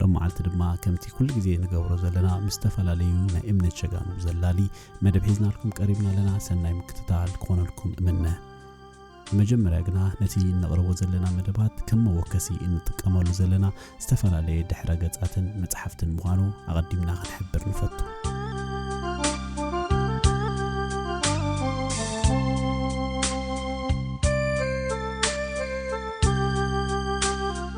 ሎማዓልቲ ድማ ከምቲ ኩሉ ግዜ ንገብሮ ዘለና ምስ ዝተፈላለዩ ናይ እምነት ሸጋኑ ዘላሊ መደብ ሒዝናልኩም ቀሪብና ኣለና ሰናይ ምክትታል ክኾነልኩም እምነ መጀመርያ ግና ነቲ እነቕርቦ ዘለና መደባት ከም መወከሲ እንጥቀመሉ ዘለና ዝተፈላለየ ድሕረ ገጻትን መጽሓፍትን ምዃኑ ኣቐዲምና ክንሕብር ንፈቱ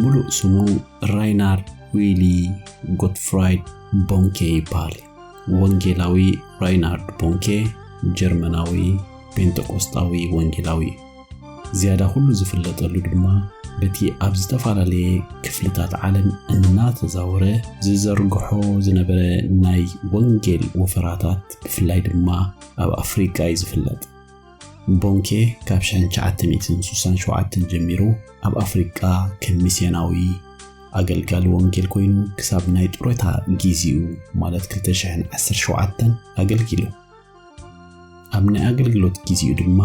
ምሉእ ስሙ ራይናር ዊሊ ጎትፍራይድ ቦንኬ ይበሃል። ወንጌላዊ ራይናርድ ቦንኬ ጀርመናዊ ጴንጠቆስጣዊ ወንጌላዊ እዩ። ዝያዳ ኩሉ ዝፍለጠሉ ድማ በቲ ኣብ ዝተፈላለየ ክፍልታት ዓለም እናተዛወረ ዝዘርግሖ ዝነበረ ናይ ወንጌል ወፈራታት ብፍላይ ድማ ኣብ ኣፍሪቃ እዩ ዝፍለጥ። ቦንኬ ካብ 1967 ጀሚሩ ኣብ ኣፍሪቃ ከም ሚስዮናዊ ኣገልጋሊ ወንጌል ኮይኑ ክሳብ ናይ ጡረታ ጊዜኡ ማለት 2017 ኣገልጊሉ። ኣብ ናይ ኣገልግሎት ጊዜኡ ድማ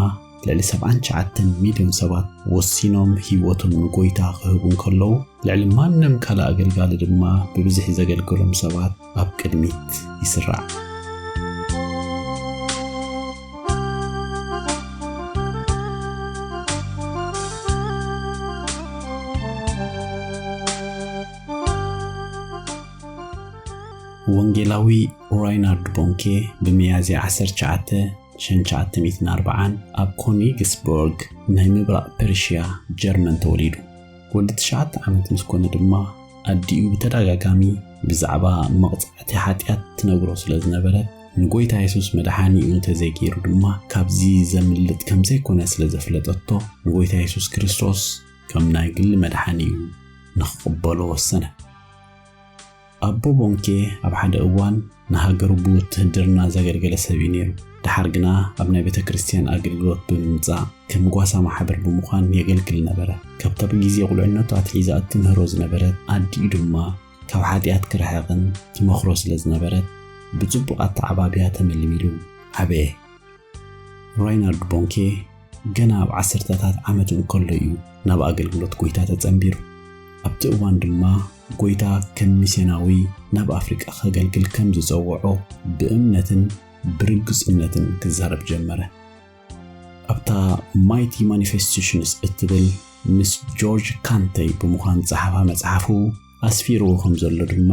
ልዕሊ 79 ሚልዮን ሰባት ወሲኖም ህይወቶም ንጎይታ ክህቡ እንከለዉ ልዕሊ ማንም ካልእ ኣገልጋሊ ድማ ብብዝሒ ዘገልገሎም ሰባት ኣብ ቅድሚት ይስራዕ። ወንጌላዊ ራይናርድ ቦንኬ ብሚያዝያ 19 1940 ኣብ ኮኒግስበርግ ናይ ምብራቕ ፐርሽያ ጀርመን ተወሊዱ። ወዲ ትሽዓተ ዓመት ምስ ኮነ ድማ ኣዲኡ ብተደጋጋሚ ብዛዕባ መቕጻዕቲ ሓጢኣት ትነግሮ ስለ ዝነበረት ንጎይታ የሱስ መድሓኒኡ እንተዘይገይሩ ድማ ካብዚ ዘምልጥ ከም ዘይኮነ ስለ ዘፍለጠቶ ንጎይታ የሱስ ክርስቶስ ከም ናይ ግሊ መድሓኒኡ ንኽቕበሎ ወሰነ። ኣቦ ቦንኬ ኣብ ሓደ እዋን ንሃገሩ ብውትህድርና ዘገልገለ ሰብ እዩ ነይሩ። ደሓር ግና ኣብ ናይ ቤተክርስትያን ኣገልግሎት ብምምጻእ ከም ጓሳ ማሕበር ብምዃን የገልግል ነበረ። ካብታ ብጊዜ ቁልዕነቱ ኣትሒዛ እትምህሮ ዝነበረት ኣዲኡ ድማ ካብ ሓጢኣት ክርሕቕን ትመኽሮ ስለዝነበረት ብጽቡቕ ኣተዓባብያ ተመልሚሉ ዓበየ። ራይናርድ ቦንኬ ገና ኣብ ዓሰርተታት ዓመቱ እንከሎ እዩ ናብ ኣገልግሎት ጐይታ ተጸንቢሩ። ኣብቲ እዋን ድማ ጐይታ ከም ሚስዮናዊ ናብ ኣፍሪቃ ከገልግል ከም ዝጸውዖ ብእምነትን ብርግጹነትን ክዛረብ ጀመረ። ኣብታ ማይቲ ማኒፌስቴሽንስ እትብል ምስ ጆርጅ ካንተይ ብምዃን ዝጸሓፋ መጽሓፉ፣ ኣስፊርዎ ኸም ዘሎ ድማ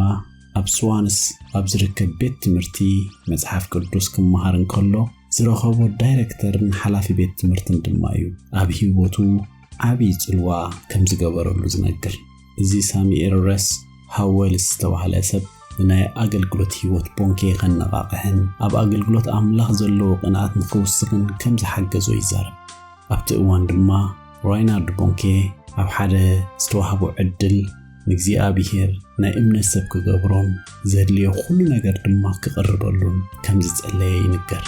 ኣብ ስዋንስ ኣብ ዝርከብ ቤት ትምህርቲ መጽሓፍ ቅዱስ ክመሃር እንከሎ ዝረኸቦ ዳይረክተርን ሓላፊ ቤት ትምህርትን ድማ እዩ ኣብ ህይወቱ ዓብዪ ጽልዋ ከም ዝገበረሉ ዝነግር። እዚ ሳሙኤል ረስ ሃወልስ ዝተባህለ ሰብ ንናይ ኣገልግሎት ህይወት ቦንኬ ኸነቓቕሕን ኣብ ኣገልግሎት ኣምላኽ ዘለዎ ቕንኣት ንኽውስኽን ከም ዝሓገዞ ይዛረብ። ኣብቲ እዋን ድማ ራይናልድ ቦንኬ ኣብ ሓደ ዝተዋህቦ ዕድል ንእግዚኣብሔር ናይ እምነት ሰብ ክገብሮን ዘድልዮ ኩሉ ነገር ድማ ክቕርበሉን ከም ዝጸለየ ይንገር።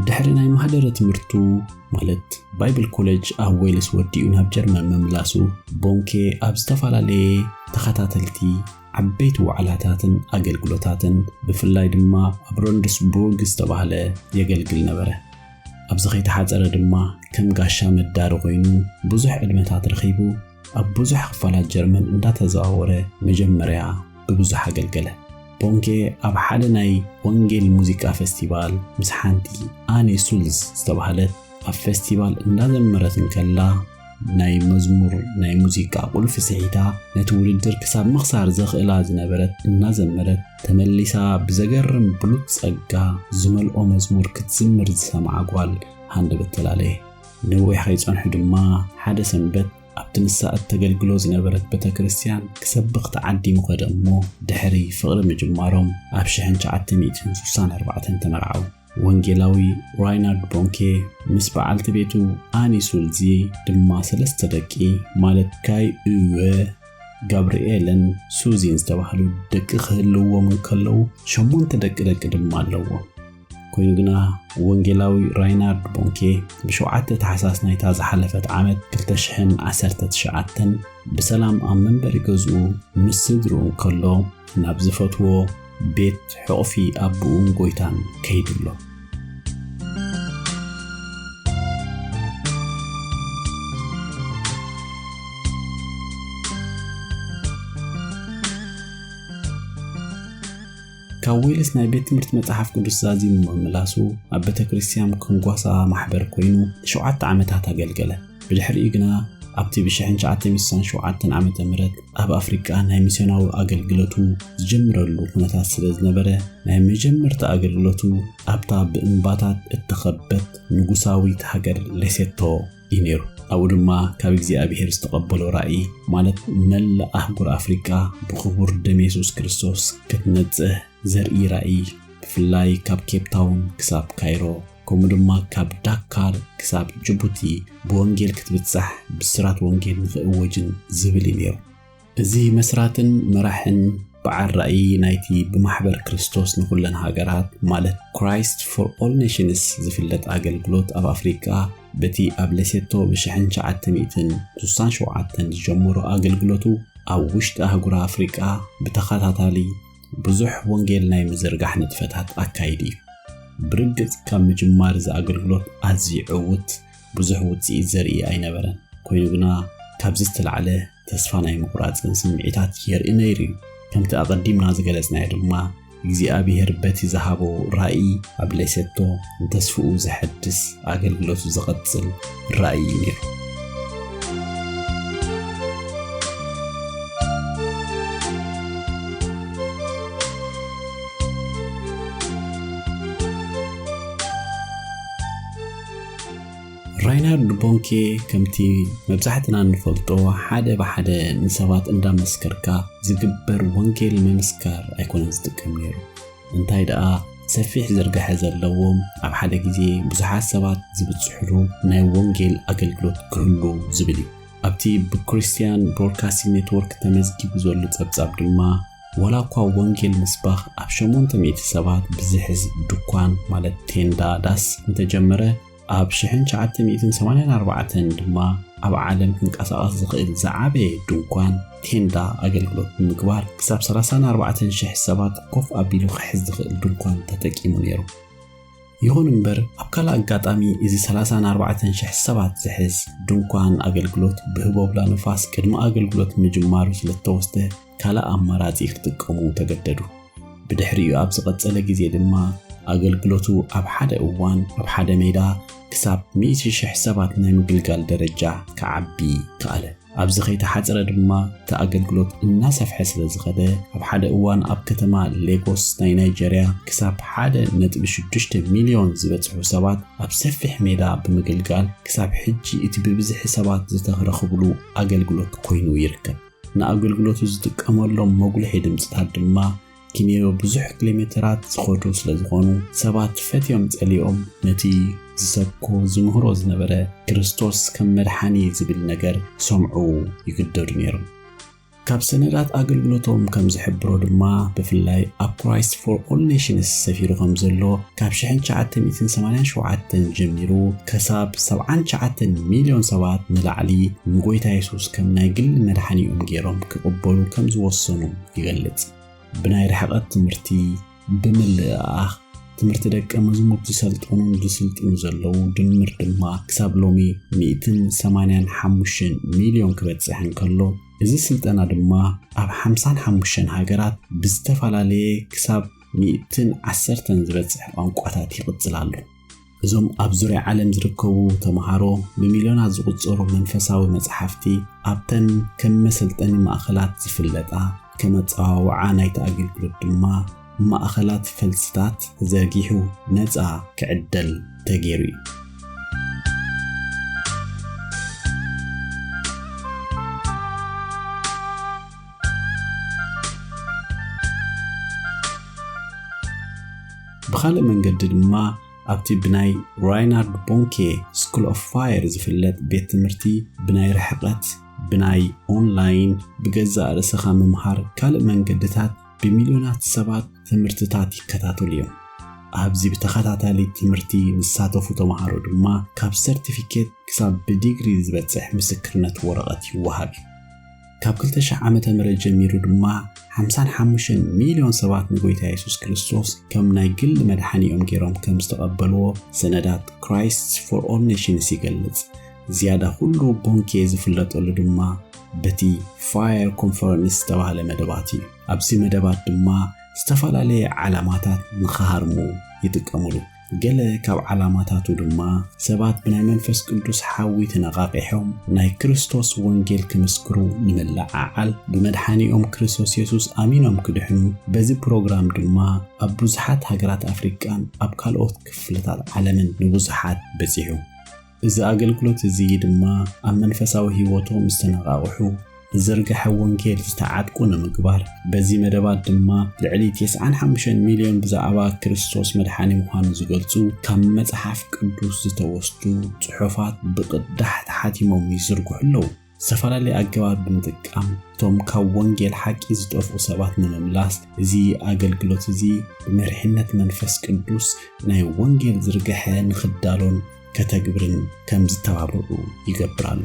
ድሕሪ ናይ ማህደረ ትምህርቱ ማለት ባይብል ኮለጅ ኣብ ዌልስ ወዲኡ ናብ ጀርመን ምምላሱ ቦንኬ ኣብ ዝተፈላለየ ተኸታተልቲ ዓበይቲ ዋዕላታትን ኣገልግሎታትን ብፍላይ ድማ ኣብ ሮንድስቡርግ ዝተባህለ የገልግል ነበረ ኣብዚ ከይተሓፀረ ድማ ከም ጋሻ መዳሪ ኮይኑ ብዙሕ ዕድመታት ረኺቡ ኣብ ብዙሕ ክፋላት ጀርመን እንዳተዘዋወረ መጀመርያ ብብዙሕ ኣገልገለ። ቦንኬ ኣብ ሓደ ናይ ወንጌል ሙዚቃ ፈስቲቫል ምስ ሓንቲ ኣኔ ሱልዝ ዝተባህለት ኣብ ፈስቲቫል እንዳዘመረት እንከላ ናይ መዝሙር ናይ ሙዚቃ ቁልፊ ስሒታ ነቲ ውድድር ክሳብ ምኽሳር ዘኽእላ ዝነበረት እናዘመረት ተመሊሳ ብዘገርም ብሉፅ ጸጋ ዝመልኦ መዝሙር ክትዝምር ዝሰምዓ ጓል ሃንደበት ተላለየ። ነዊሕ ከይጸንሑ ድማ ሓደ ሰንበት ኣብቲ ንሳ እተገልግሎ ዝነበረት ቤተ ክርስትያን ክሰብኽ ተዓዲሙ ከደ እሞ ድሕሪ ፍቕሪ ምጅማሮም ኣብ ሽሕን ትሽዓተ ሚእትን ስሳን ኣርባዕተን ተመርዓዉ። ወንጌላዊ ራይናርድ ቦንኬ ምስ በዓልቲ ቤቱ ኣኒ ሱልዚ ድማ ሰለስተ ደቂ ማለት ካይ እወ ጋብርኤልን ሱዚን ዝተባህሉ ደቂ ክህልዎም እንከለዉ ሸሞንተ ደቂ ደቂ ድማ ኣለዎም። ኮይኑ ግና ወንጌላዊ ራይናርድ ቦንኬ ብሸውዓተ ታሕሳስ ናይታ ዝሓለፈት ዓመት 2019 ብሰላም ኣብ መንበሪ ገዝኡ ምስ ስድርኡ ከሎ ናብ ዝፈትዎ ቤት ሕቑፊ ኣቦኡን ጎይታን ከይድሎ ካብ ዌልስ ናይ ቤት ትምህርቲ መጽሓፍ ቅዱስ ዛዚሙ ምምላሱ ኣብ ቤተ ክርስቲያን ክንጓሳ ማሕበር ኮይኑ ንሸውዓተ ዓመታት ኣገልገለ። ብድሕሪኡ ግና ኣብቲ ብ1967 ዓ.ም ኣብ ኣፍሪቃ ናይ ሚስዮናዊ ኣገልግሎቱ ዝጀምረሉ ኩነታት ስለ ዝነበረ ናይ መጀመርታ ኣገልግሎቱ ኣብታ ብእምባታት እተኸበት ንጉሳዊት ሃገር ሌሴቶ እዩ ነይሩ። ኣብኡ ድማ ካብ እግዚኣብሔር ዝተቐበሎ ራእይ ማለት መላእ ኣህጉር ኣፍሪቃ ብኽቡር ደም የሱስ ክርስቶስ ክትነጽህ ዘርኢ ራእይ ብፍላይ ካብ ኬፕታውን ክሳብ ካይሮ ከምኡ ድማ ካብ ዳካር ክሳብ ጅቡቲ ብወንጌል ክትብጻሕ ብስራት ወንጌል ንኽእወጅን ዝብል እዩ ነይሩ። እዚ መስራትን መራሕን በዓል ራእይ ናይቲ ብማሕበር ክርስቶስ ንኹለን ሃገራት ማለት ክራይስት ፎር ኦል ኔሽንስ ዝፍለጥ ኣገልግሎት ኣብ ኣፍሪቃ በቲ ኣብ ሌሴቶ ብ1967 ዝጀመሮ ኣገልግሎቱ ኣብ ውሽጢ ኣህጉር ኣፍሪቃ ብተኸታታሊ ብዙሕ ወንጌል ናይ ምዝርጋሕ ንጥፈታት ኣካይዱ እዩ። ብርግጽ ካብ ምጅማር እዚ ኣገልግሎት ኣዝዩ ዕዉት ብዙሕ ውጽኢት ዘርኢ ኣይነበረን። ኮይኑ ግና ካብዚ ዝተላዕለ ተስፋ ናይ ምቑራጽን ስምዒታት የርኢ ነይሩ እዩ። ከምቲ ኣቐዲምና ዝገለጽናዮ ድማ እግዚኣብሄር በቲ ዝሃቦ ራእይ ኣብ ሌሴቶ ንተስፍኡ ዘሐድስ ኣገልግሎቱ ዝቐጽል ራእይ እዩ ነይሩ። ራይናርድ ቦንኬ ከምቲ መብዛሕትና እንፈልጦ ሓደ ብሓደ ንሰባት እንዳመስከርካ ዝግበር ወንጌል ምምስካር ኣይኮነን ዝጥቀም ነይሩ እንታይ ደኣ ሰፊሕ ዝርግሐ ዘለዎም ኣብ ሓደ ግዜ ብዙሓት ሰባት ዝብጽሕሉ ናይ ወንጌል ኣገልግሎት ክህሉ ዝብል እዩ ኣብቲ ብክርስትያን ብሮድካስቲንግ ኔትወርክ ተመዝጊቡ ዘሎ ጸብጻብ ድማ ዋላ እኳ ወንጌል ምስባኽ ኣብ ሸሞንተ ሚእቲ ሰባት ብዝሕዝ ድኳን ማለት ቴንዳ ዳስ እንተጀመረ፣ ኣብ ሽሕን ትሽዓተ ሚእትን ሰማንያን ኣርባዕተን ድማ ኣብ ዓለም ክንቀሳቐስ ዝኽእል ዝዓበየ ድንኳን፣ ቴንዳ፣ ኣገልግሎት ብምግባር ክሳብ ሰላሳን ኣርባዕተን ሽሕ ሰባት ኮፍ ኣቢሉ ክሕዝ ዝኽእል ድንኳን ተጠቂሙ ነይሩ። ይኹን እምበር ኣብ ካልእ ኣጋጣሚ እዚ ሰላሳን ኣርባዕተን ሽሕ ሰባት ዝሕዝ ድንኳን ኣገልግሎት ብህቦብላ ንፋስ ቅድሚ ኣገልግሎት ምጅማሩ ስለ እተወስደ ካልእ ኣማራጺ ክጥቀሙ ተገደዱ። ብድሕሪኡ ኣብ ዝቐጸለ ግዜ ድማ ኣገልግሎቱ ኣብ ሓደ እዋን ኣብ ሓደ ሜዳ ክሳብ ሚእቲ ሽሕ ሰባት ናይ ምግልጋል ደረጃ ክዓቢ ከኣለ። ኣብዚ ከይተሓጽረ ድማ እቲ ኣገልግሎት እናሰፍሐ ስለ ዝኸደ ኣብ ሓደ እዋን ኣብ ከተማ ሌጎስ ናይ ናይጀርያ ክሳብ ሓደ ነጥቢ ሽዱሽተ ሚልዮን ዝበጽሑ ሰባት ኣብ ሰፊሕ ሜዳ ብምግልጋል ክሳብ ሕጂ እቲ ብብዝሒ ሰባት ዝተረኽብሉ ኣገልግሎት ኮይኑ ይርከብ። ንኣገልግሎቱ ዝጥቀመሎም መጉልሒ ድምጽታት ድማ ኪንዮ ብዙሕ ኪሎሜተራት ዝኸዱ ስለ ዝኾኑ ሰባት ፈትዮም ጸሊኦም ነቲ ዝሰብኮ ዝምህሮ ዝነበረ ክርስቶስ ከም መድሓኒ ዝብል ነገር ክሰምዑ ይግደዱ ነይሮም። ካብ ሰነዳት ኣገልግሎቶም ከም ዝሕብሮ ድማ ብፍላይ ኣብ ክራይስት ፎር ኦል ኔሽንስ ሰፊሩ ከም ዘሎ ካብ ሽሕን ትሽዓተ ሚእትን ሰማንያን ሸውዓተን ጀሚሩ ከሳብ ሰብዓን ትሽዓተን ሚልዮን ሰባት ንላዕሊ ንጎይታ የሱስ ከም ናይ ግሊ መድሓኒኦም ገይሮም ክቕበሉ ከም ዝወሰኑ ይገልጽ። ብናይ ርሕቐት ትምህርቲ፣ ብምልእኣኽ ትምህርቲ ደቀ መዝሙር ዝሰልጠኑን ዝስልጥኑ ዘለዉ ድምር ድማ ክሳብ ሎሚ ሚእትን ሰማንያን ሓሙሽተን ሚልዮን ክበጽሕ እንከሎ እዚ ስልጠና ድማ ኣብ ሓምሳን ሓሙሽተን ሃገራት ብዝተፈላለየ ክሳብ ሚእትን ዓሰርተን ዝበጽሕ ቋንቋታት ይቕጽል ኣሎ። እዞም ኣብ ዙርያ ዓለም ዝርከቡ ተምሃሮ ብሚልዮናት ዝቝጸሩ መንፈሳዊ መጽሓፍቲ ኣብተን ከም መሰልጠኒ ማእከላት ዝፍለጣ ከም ኣጸዋውዓ ናይቲ ኣገልግሎት ድማ ማእከላት ፈልስታት ተዘርጊሑ ነጻ ክዕደል ተገይሩ እዩ። ብኻልእ መንገዲ ድማ ኣብቲ ብናይ ራይናርድ ቦንኬ ስኩል ኦፍ ፋየር ዝፍለጥ ቤት ትምህርቲ ብናይ ርሕቐት ብናይ ኦንላይን ብገዛእ ርእስኻ ምምሃር ካልእ መንገድታት ብሚልዮናት ሰባት ትምህርትታት ይከታተሉ እዮም ኣብዚ ብተኸታታሊ ትምህርቲ ዝሳተፉ ተምሃሮ ድማ ካብ ሰርቲፊኬት ክሳብ ብዲግሪ ዝበፅሕ ምስክርነት ወረቐት ይወሃብ እዩ ካብ 2000 ዓመተ ምህረት ጀሚሩ ድማ 55 ሚልዮን ሰባት ንጎይታ የሱስ ክርስቶስ ከም ናይ ግል መድሓኒኦም ገይሮም ከም ዝተቐበልዎ ሰነዳት ክራይስት ፎር ኦል ኔሽንስ ይገልጽ። ዝያዳ ኩሉ ቦንኬ ዝፍለጠሉ ድማ በቲ ፋየር ኮንፈረንስ ዝተባህለ መደባት እዩ። ኣብዚ መደባት ድማ ዝተፈላለየ ዓላማታት ንኽሃርሙ ይጥቀሙሉ። ገለ ካብ ዓላማታቱ ድማ ሰባት ብናይ መንፈስ ቅዱስ ሓዊ ተነቓቒሖም ናይ ክርስቶስ ወንጌል ክምስክሩ ንምልዕዓል፣ ብመድሓኒኦም ክሪሶስ የሱስ ኣሚኖም ክድሕኑ፣ በዚ ፕሮግራም ድማ ኣብ ብዙሓት ሃገራት ኣፍሪቃን ኣብ ካልኦት ክፍልታት ዓለምን ንብዙሓት በጺሑ። እዚ ኣገልግሎት እዚ ድማ ኣብ መንፈሳዊ ህይወቶም ዝተነቓቕሑ ብዝርግሐ ወንጌል ዝተዓጥቁ ንምግባር በዚ መደባት ድማ ልዕሊ 95 ሚልዮን ብዛዕባ ክርስቶስ መድሓኒ ምዃኑ ዝገልጹ ካብ መጽሓፍ ቅዱስ ዝተወስዱ ጽሑፋት ብቕዳሕ ተሓቲሞም ይዝርግሑ ኣለዉ። ዝተፈላለየ ኣገባብ ብምጥቃም እቶም ካብ ወንጌል ሓቂ ዝጠፍኡ ሰባት ንምምላስ እዚ ኣገልግሎት እዚ ብመሪሕነት መንፈስ ቅዱስ ናይ ወንጌል ዝርግሐ ንኽዳሎን ከተግብርን ከም ዝተባብዑ ይገብር ኣሎ።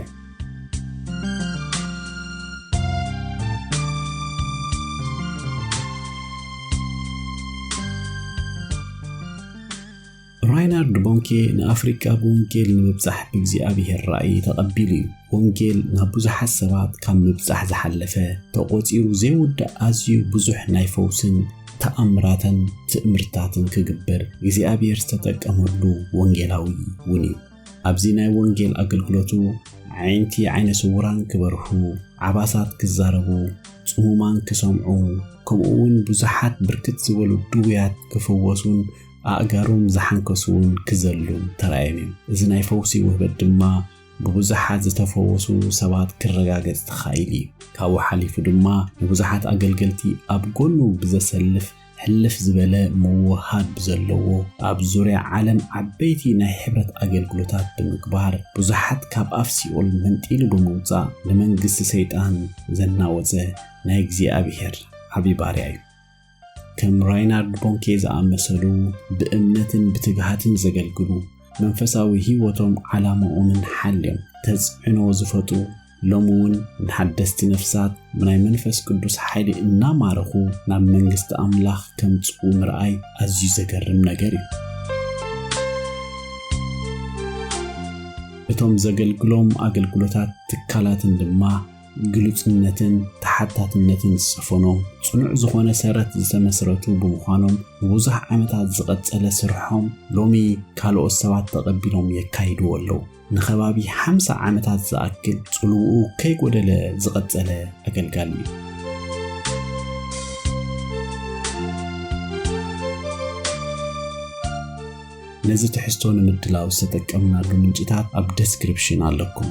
ራይናርድ ቦንኬ ንኣፍሪቃ ብወንጌል ንምብጻሕ ብእግዚኣብሔር ራእይ ተቐቢሉ እዩ። ወንጌል ናብ ብዙሓት ሰባት ካብ ምብጻሕ ዝሓለፈ ተቖጺሩ ዘይውዳእ ኣዝዩ ብዙሕ ናይ ፈውስን ተኣምራትን ትእምርታትን ክግበር እግዚኣብሔር ዝተጠቀመሉ ወንጌላዊ እውን እዩ። ኣብዚ ናይ ወንጌል ኣገልግሎቱ ዓይንቲ ዓይነ ስውራን ክበርሁ፣ ዓባሳት ክዛረቡ፣ ጽሙማን ክሰምዑ፣ ከምኡውን ብዙሓት ብርክት ዝበሉ ድውያት ክፍወሱን ኣእጋሮም ዝሓንከሱ እውን ክዘሉ ተራእዮም እዮም። እዚ ናይ ፈውሲ ውህበት ድማ ብብዙሓት ዝተፈወሱ ሰባት ክረጋገጽ ተኻኢሉ እዩ። ካብኡ ሓሊፉ ድማ ንብዙሓት ኣገልገልቲ ኣብ ጎኑ ብዘሰልፍ ሕልፍ ዝበለ ምውህሃድ ብዘለዎ ኣብ ዙርያ ዓለም ዓበይቲ ናይ ሕብረት ኣገልግሎታት ብምግባር ብዙሓት ካብ ኣፍ ሲኦል መንጢሉ ብምውጻእ ንመንግስቲ ሰይጣን ዘናወጸ ናይ እግዚኣብሔር ዓቢ ባርያ እዩ። ከም ራይናርድ ቦንኬ ዝኣመሰሉ ብእምነትን ብትግሃትን ዘገልግሉ መንፈሳዊ ህይወቶም ዓላማኦምን ሓልዮም ተጽዕኖ ዝፈጥሩ ሎሚ እውን ንሓደስቲ ነፍሳት ብናይ መንፈስ ቅዱስ ሓይሊ እናማረኹ ናብ መንግስቲ ኣምላኽ ከምጽኡ ምርኣይ ኣዝዩ ዘገርም ነገር እዩ እቶም ዘገልግሎም ኣገልግሎታት ትካላትን ድማ ግሉጽነትን ተሓታትነትን ዝሰፈኖ ጽኑዕ ዝኾነ ሰረት ዝተመስረቱ ብምዃኖም ንብዙሕ ዓመታት ዝቐጸለ ስርሖም ሎሚ ካልኦት ሰባት ተቐቢሎም የካይድዎ ኣለዉ። ንኸባቢ ሓምሳ ዓመታት ዝኣክል ጽልውኡ ከይጎደለ ዝቐጸለ ኣገልጋሊ እዩ። ነዚ ትሕዝቶ ንምድላው ዝተጠቀምናሉ ምንጭታት ኣብ ደስክሪፕሽን ኣለኩም።